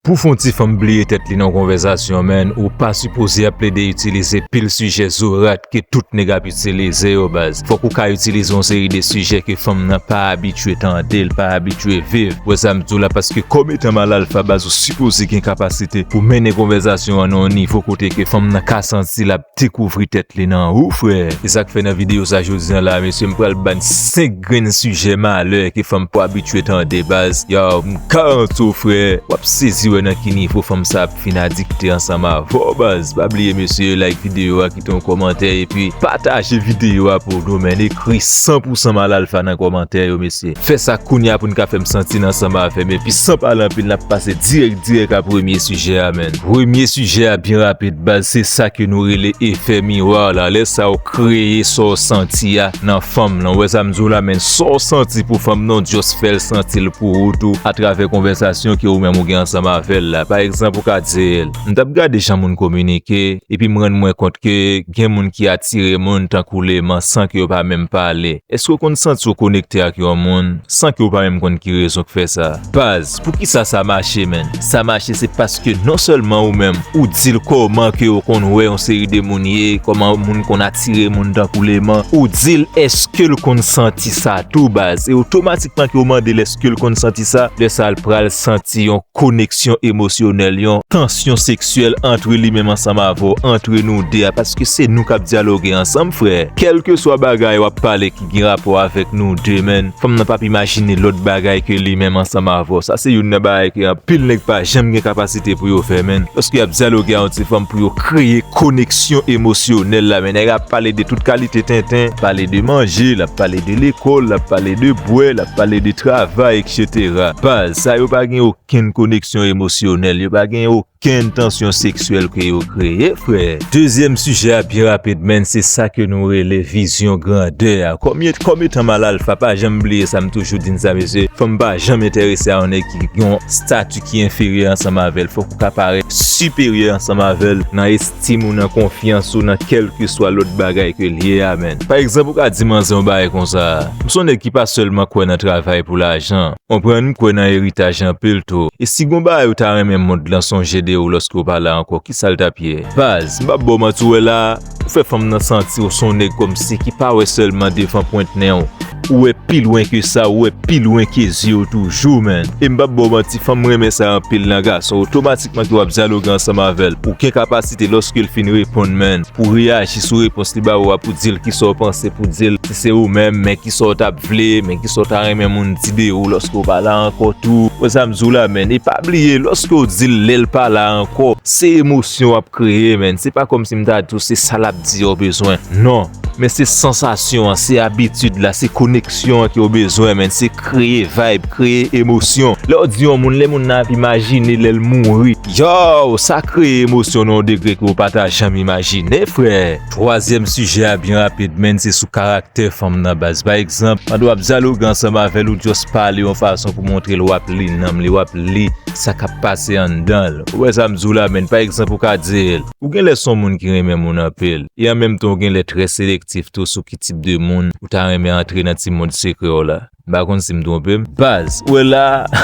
Pou fon ti fanm bliye tèt li nan konvèzasyon menn ou pa sipoze ap plede itilize pil sijè zorat ke tout nèg ap itilize yo baz fòk ou ka itilize yon seri de sijè ke fanm nan pa abitye tande l pa abitye viv wè sa m di w la paske kòm etan malalfa baz ou sipoze gen kapasite pou mennen konvèzasyon an nan yon nivo kote ke fanm nan ka santi l ap dekouvri tèt li nan ou frè. Se sak fè nan video sa jodi an la mesye m pral bann 5 grenn sijè malè ke fanm poko abitye tande baz yow m garanti w frè wap sezi wè nan ki nivo fanm sa ap fin adikte ansanm avèw baz pa bliye mesye like video a kite yon kòmantè epi pataje video a pou nou menn ekri 100 pou 100 mal alfa nan kòmantè yo mesye fè sa kounya pou n ka fè m santi n ansanm avèm epi san pale anpil nap pase dirèk dirèk a premye sijè a menn. Premye sijè a byen rapid baz se sa ke nou rele efè miwa la lè sa ou kreye sa w santi a nan fanm lan ou wè sa m di w la men sa w santi pou fanm lan w just fè l santi l pou ou tou atravè konvèsasyon ke ou menm ou gen ansanm avè l la pa egzanp ou ka di l m t ap gade jan moun kominike epi m rann mwen kont ke gen moun ki atire moun tankou leman san ke yo pa menm pale èske w konn santi w konekte ak yon moun san ke w pa menm konn ki rezon k fè sa baz. Poukisa sa mache menn? Sa mache se paske non sèlman ou menm ou di l kòman ke ou konn wè yon seri de moun ye, kòman moun konn atire moun tankou leman, ou di l eske l konn santi sa tou baz? E otomatikman ke ou mande l eske l konn santi sa, lè sa l pral santi yon koneksyon emosyonèl, yon tansyon seksyèl antre li menm ansanm avè w, antre nou 2 a, paske se nou k ap dyaloge ansanm frè, kèlkeswa bagay w ap pale. gen rapò avèk nou de men fanm nan pap imajine lòt bagay ke li menm ansanm avèw sa se youn nan bagay ke anpil nèg pa janm gen kapasite pou yo fè menn lòske yap dyaloge a yon ti fanm pou yo kreye koneksyon emosyonèl la men nèg ap pale de tout kalite tenten pale de manje lap pale de lekòl lap pale de bwè lap pale de travay etc baz sa yo pa gen okenn koneksyon emosyonèl yo pa gen Ki entansyon seksyèl ke yo kreye, frè? Dezyèm sijè a pi rapid menn se sa ke nou rele vizyon grandè a. Kòm etan m al alfa pa janm bliye sa m toujou di n sa mesye, fanm pa janm enterese a yon nèg ki gen yon stati ki enferyè ansanm avè l. Fòk ou ka parèt siperyè ansanm avè l nan estim ou, nan konfyans ou, nan kèlkeswa lòt bagay ke l ye a menn. Pa egzanp ou ka di manzè yon bagay konsa, m se yon nèg ki pa sèlman kwè nan travay pou lajan. Konprann m kwè nan eritaj anpil tou. E si gon bagay ou ta renmen mond lan sonje de ou lòske ou pa la ankò ki sa l t ap ye? Baz, m pa ba w manti ou wè la a, ou fè fanm nan santi ou s on nèg kòmsi ki pa wè sèlman devan pwent nen w, ou wè pi lwen ke sa, ou wè pi lwen ke zye w toujou menn. E m p ap ba w manti fanm renmen sa anpil nan gason otomatikman ke w ap dyaloge ansanm avè l, ou gen kapasite lòske l fin reponn menn pou w reyaji sou repons li ba ou a pou di l ki sa w panse pou w di l. Se ou menm men kisa w tap vle, men kisa w ta renmen moun di de ou lòske w pa la ankò tou. Wè sa m di w la menn, e pa bliye lòske w di l lè l pa la ankò, se emosyon w ap kreye menn, se pa kòmsi m ta di w se sa l ap di a w bezwen, non, men se sansasyon an, se abitid la, se koneksyon an ke w bezwen menn, se kreye vayb, kreye emosyon. Lè w di yon moun, lè moun nan ap imajine lè l mouri, yow, sa kreye emosyon nan yon degre ke w pa ta janm imajine frè. Twazyèm sijè a byen rapid menn se sou karaktè fanm nan baz. Pa egzanp, pandan w ap dyaloge ansanm avè l ou just pale yon fason pou montre l w ap li nanm li, w ap li sa k ap pase anndan l. Ou wè sa m di w la menn? Pa egzanp ou ka di l, ou genlè s on moun ki renmen moun anpil e an menm tan ou genlè trè selektif tou sou ki tip de moun ou ta renmen antre nan ti mond sekrè w la. M pa konn si m twonpe m. Baz, ou wè la a,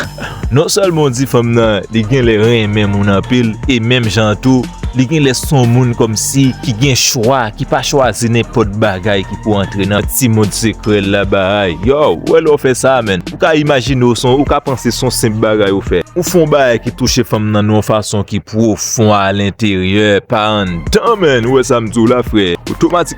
non sèlman w di fanm nan li genlè renmen moun anpil e menm jan an tou li genlè s on moun kòmsi ki gen chwa, ki pa chwazi nenpòt bagay ki pou antre nan ti mond sekrè l la baay. Yow, ou wè lè w fè sa a menn, ou ka imajine w s on, ou ka panse s on senp bagay ou fè. Ou fè on bagay ki touche fanm nan yon fason ki pwofon alenteryè, pa anndan menn, ou wè sa m di w la frè.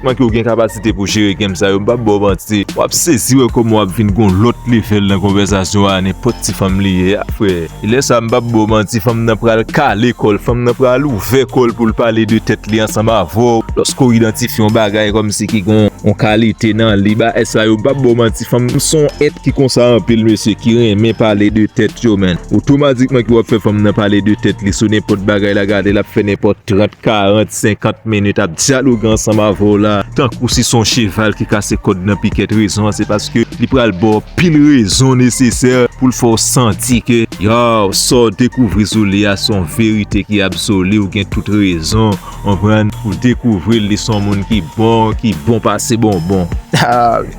Manke ou gen kapasite pou jere game sa yo m pap baw manti wap sezi wè kòman wap vin gon lòt level nan konvèsasyon a nenpòt ti fanm li ye a frè e lè sa m pap baw manti fanm nan pral kale kòl fanm nan pral ouvè kòl poul pale de tèt li ansanm avèw lòske ou idantifye yon bagay kòmsi ki gon yon kalite nan li bagay sa yo m pap baw manti fanm nan son èt ki konsa anpil mesye ki renmen pale de tèt yo man otomatikman ke wap fè fanm nan pale de tèt li sou nenpòt bagay la gade lap fè nenpòt 30 40. 50 minutes ap dyaloge ansanm avè w la tankou si se yon cheval ki kase kòd nan pikèt rezon an se paske li pral ba w anpil rezon nesesè pou l fè w santi ke yow sa w dekouvri sou li a se yon verite ki absoli ou gen tout rezon konprann pou dekouvri l li se yon moun ki bon ki bon pase bonbon.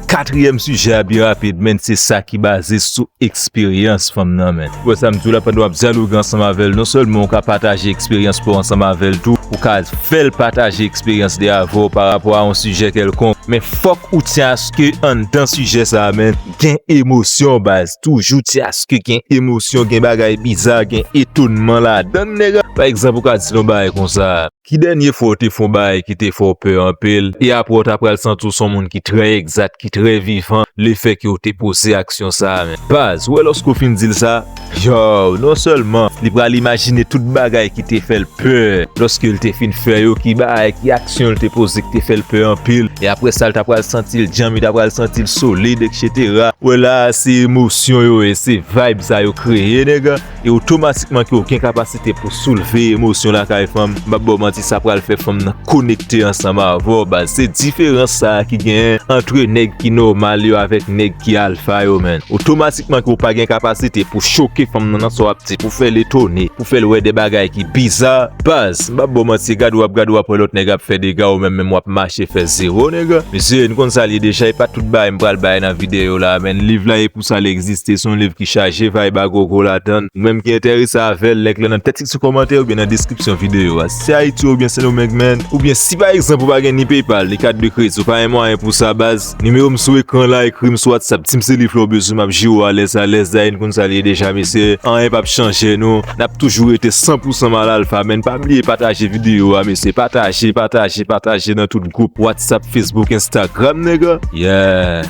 Katriyèm sijè a pi rapid menn se sa ki baze sou eksperyans fanm nan menn. Wè sa m di w la pandan w ap dyaloge ansanm avè l non sèlman ou ka pataje eksperyans pa w ansanm avè l tou ou ka fè l pataje eksperyans li avè w parapò a yon sijè kèlkonk men fòk ou ti aske anndan sijè sa a menn gen emosyon baz toujou ti aske gen emosyon gen bagay biza gen etonman ladan l nèg ap pa egzanp ou ka di l yon bagay konsa. Ki dènye fwa w te fè yon bagay ki te fè w pè anpil, e apre w ta pral santi w se yon moun ki trè egzat, ki trè vivan, lefèke w te poze aksyon sa a? Men, baz, ou wè lòske w fin di l sa, yow, non sèlman li pral imajine tout bagay ki te fè l pè lòske l te fin fè yo, ki bagay, ki aksyon l te poze ki te fè l pè anpil, e apre sa l ta pral santi l djanm, li ta pral santi l solid, eksetera. Ou wè la a, se emosyon yo ye, se vayb sa yo kreye, nèg. e otomatikman ke w gen kapasite pou soulve emosyon lakay fanm, m pap ba w manti sa pral fè fanm nan konekte ansanm avè w baz, se diferans sa ki genyen antre nèg ki nòmal yo avèk nèg ki alfa yo menn, otomatikman ke w pa gen kapasite pou choke fanm nan nan sa w ap di, pou fè l etone, pou fè l wè de bagay ki biza baz, m pap ba w manti gade w ap gade w ap wè lòt nèg ap fè dega ou menm menm w ap mache fè zero nèg, mesye n konn sa l ye deja e pa tout bagay m pral bay nan videyo la menn, liv la. Pou sa li egziste, se yon liv ki chaje vayb a gogo ladan l. Ou menm ki enterese avè l, link lan nan tèks ki sou kòmantè oubyen nan deskripsyon videyo a. Si Ayiti oubyen Sendomeng menn, oubyen si pa egzanp ou pa gen ni PayPal, ni kat de kredi, ou pa gen mwayen pou sa baz, nimewo m sou ekran la, ekri m sou WhatsApp, di m se liv la w bezwen m ap jere w alèz alèz, dayè n konn sa li ye deja mesye, anyen pap chanje nou, n ap toujou rete san pou san mal alfa menn, pa bliye pataje videyo a mesye, pataje, pataje, pataje nan tout gwoup, WhatsApp, Facebook, Instagram nèg, yeah.